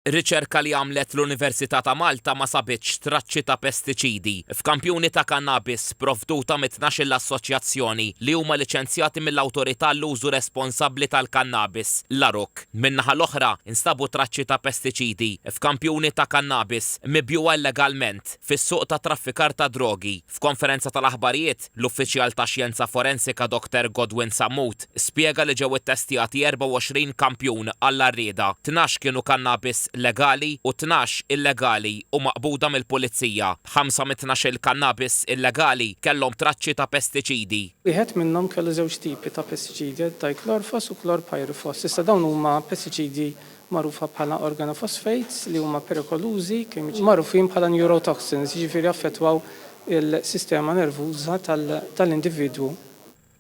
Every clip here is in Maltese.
Riċerka li għamlet l-Università ta' Malta ma sabitx traċċi ta' pestiċidi f'kampjuni ta' kannabis sprovduta mit-tnax-il assoċjazzjoni li huma liċenzjati mill-Awtorità għall-Użu Responsabbli tal-Kannabis, l-ARUC. Min-naħa l-oħra, instabu traċċi ta' pestiċidi f'kampjuni ta' kannabis mibjugħa illegalment fis-suq tat-traffikar tad-drogi. F'konferenza tal-aħbarijiet, L-uffiċjal ta' xjenza forensika Doktor Godwin Sammut spjega li ġew ittestjati 24 kampjun għall-għarrieda, tnax kienu kannabis legali u tnax illegali u maqbuda mill-Pulizija. Ħamsa mit-tnax-il kannabis illegali kellhom traċċi ta' pestiċidi. Wieħed minnhom kellu żewġ tipi ta' pestiċidi, diclorphos u chlorpyrifos, iżda dawn huma pestiċidi magħrufa bħala organophosphates, li huma perikolużi, kimiċi magħrufin bħala neurotoxins, jiġifieri jaffettwaw il-sistema nervuża tal-individwu.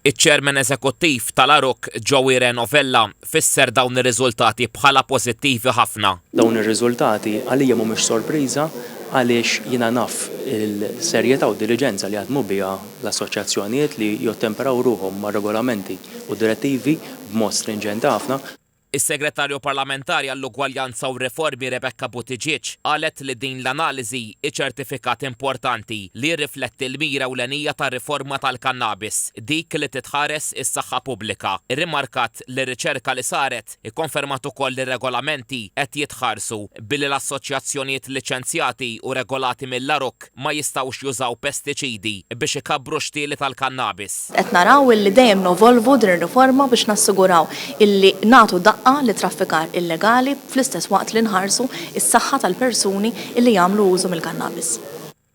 Iċ-Chairman Eżekuttiv tal-Aruc, Joey Reno Vella, fisser dawn ir-riżultati bħala pożittivi ħafna. Dawn ir-riżultati għalija mhumiex sorpriża għaliex jiena naf il-serjetà u d-diliġenza li jaħdmu biha l-assoċjazzjonijiet li jottemperaw ruħhom mar-regolamenti u d-direttivi b'mod strinġenti ħafna. Is-Segretarju Parlamentari għall-Ugwaljanza u r-Riformi Rebecca Buttigieg qalet li din l-analiżi hi ċertifikat importanti li jirrifletti l-mira ewlenija tar-riforma tal-kannabis, dik li titħares is-saħħa pubblika. Irrimarkat li r-riċerka li saret ikkonfermat ukoll li r-regolamenti qed jitħarsu billi l-assoċjazzjonijiet liċenzjati u regolati mill-ARUC, ma jistgħux jużaw pestiċidi biex ikabbru x-xtieli tal-kannabis. Qed naraw illi dejjem nevolvu din ir-riforma biex nassiguraw illi nagħtu daqqa lit-traffikar illegali fl-istess waqt li nħarsu s-saħħa tal-persuni illi jagħmlu użu mill-kannabis.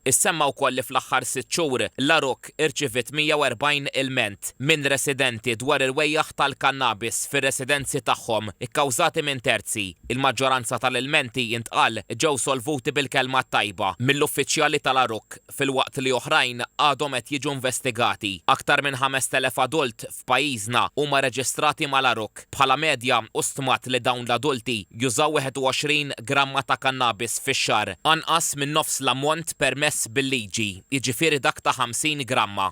Issemma wkoll li fl-aħħar sitt xhur, l-għarug, Park irċiviet 140 ilment minn residenti dwar il-wejjaħ tal-kannabis fir-residenzi tagħhom ikkawżati minn terzi. Il-maġġoranza tal-ilmenti, intqal, ġew solvuti bil-kelma t-tajba mill-uffiċjali tal-għarukk filwaqt li oħrajn għadhom qed jiġu investigati. Aktar minn 5,000 adult f'pajjiżna huma reġistrati mal-ARUC. Bħala medja hu stmat li dawn l-adulti jużaw 21 gramma ta' kannabis fix-xahar, anqas minn nofs l-ammont permess bil-liġi, jiġifieri dak ta' 50 gramma.